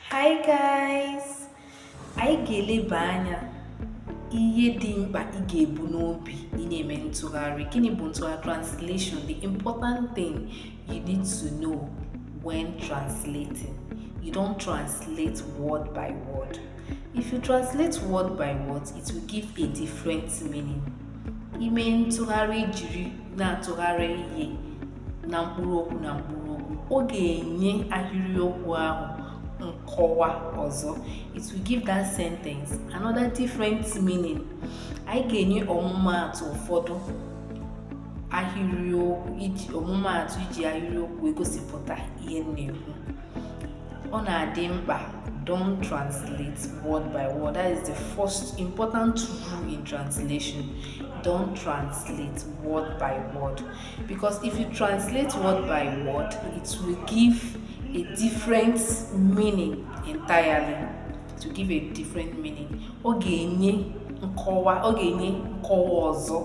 Hi guys! Anyị ga-eleba anya ihe dị mkpa ị ga-ebu n'obi ị na-eme ntụgharị. Gịnị bụ ntụgharị translation? The important thing you need to know when translating. You don't translate word by word. If you translate word by word, it will give a different meaning. Ime ntụgharị jiri na-atụgharị ihe na mkpụrụ okwu na mkpụrụ okwu ọ ga-enye ahịrịokwu ahụ nkọwa ọzọ it will give that sentence another different meaning anyị ga-enye ọmụmaatụ ụfọdụ ahịrịokwu iji ọmụmaatụ iji ahịrịokwu egosipụta ihe na-ekwu ọ na-adị mkpa don't translate word by word that is the first important rule in translation don't translate word by word Because if you translate word by word, it will give a different meaning entirely. It will give a different meaning. Ọ ga-enye nkọwa ọ ga-enye nkọwa ọzọ.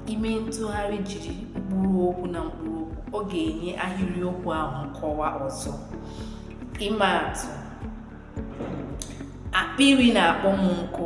Ime ntụgharị jiri mkpụrụ okwu na mkpụrụ okwu, ọ ga-enye ahịrịokwu ahụ nkọwa ọzọ. Ịma atụ, akpịrị na-akpọ m nkụ.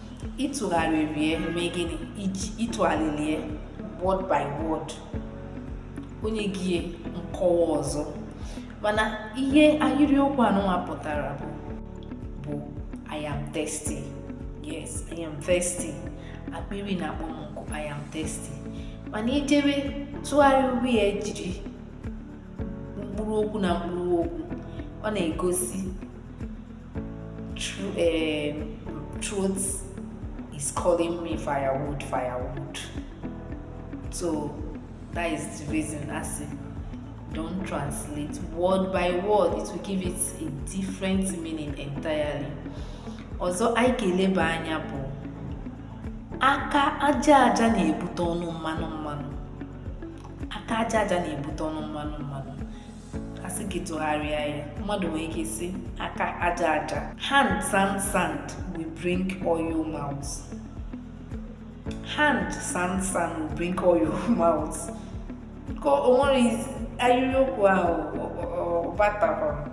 ị tụgharịrị ya ọ mee gịnị ị tụgharịrị ya word by word o nye gị nkọwa ọzọ mana ihe ahịrịokwu anụnwa pụtara bụ bụ I am thirsty yes I am thirsty akpịrị na-akpọ m nkụ I am thirsty mana i jebe tụgharịwe ya jiri mkpụrụ okwu na mkpụrụ okwu ọ na-egosi Throat, um, throat is calling me firewood, firewood. So that is the reason I say don't translate word by word. It will give it a different meaning entirely. Ọzọ, anyị ga-eleba anya bụ aka aja aja na-ebute ọnụ mmanụ mmanụ aka aja aja na-ebute ọnụ mmanụ mmanụ a sị gị tụgharịa ya mmadụ nwere ike ịsị aka aja aja hand sand sand will bring oil mouth hand sand sand will bring oil mouth ka o nwere ahịrịokwu ahụ ọ batakwara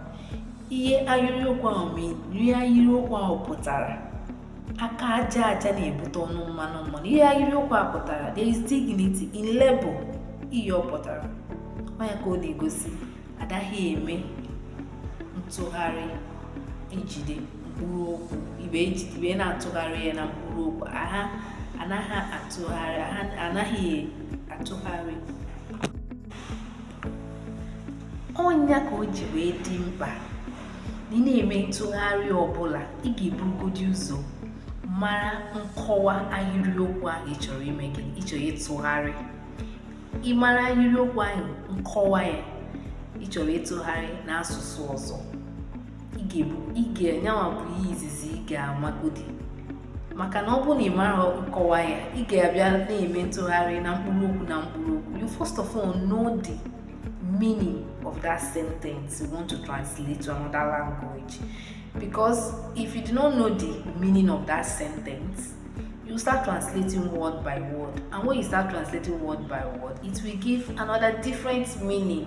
ihe ahịrịokwu ahụ mana ihe ahịrịokwu ahụ pụtara aka aja aja na-ebute ọnụ mmanụ mmanụ ihe ahịrịokwu a pụtara there is dignity in labor ihe ọ pụtara ọ ya ka ọ na-egosi adaghị eme ntụgharị ijide mkpụrụ okwu ibe ejide ibe na-atụgharị ya na mkpụrụ okwu aha anaghị atụgharị anaghị atụgharị ọ nya ka o ji wee dị mkpa na ị na-eme ntụgharị ọbụla ị ga-eburugodi ụzọ mara nkọwa ahịrịokwu ahụ ị chọrọ ime gịnị ị chọrọ ịtụgharị ị mara ahịrịokwu ahụ nkọwa ya ị chọrọ ịtụgharị n'asụsụ ọzọ ị ga-ebu ị ga nyanwa bụ ihe izizi ị ga-amagodi maka na ọ bụrụ na ị marọ nkọwa ya ị ga-abịa na-eme ntụgharị na mkpụrụ okwu na mkpụrụ okwu you first of all know the meaning of that sentence you want to translate to another language because if you do not know the meaning of that sentence you start translating word by word and when you start translating word by word it will give another different meaning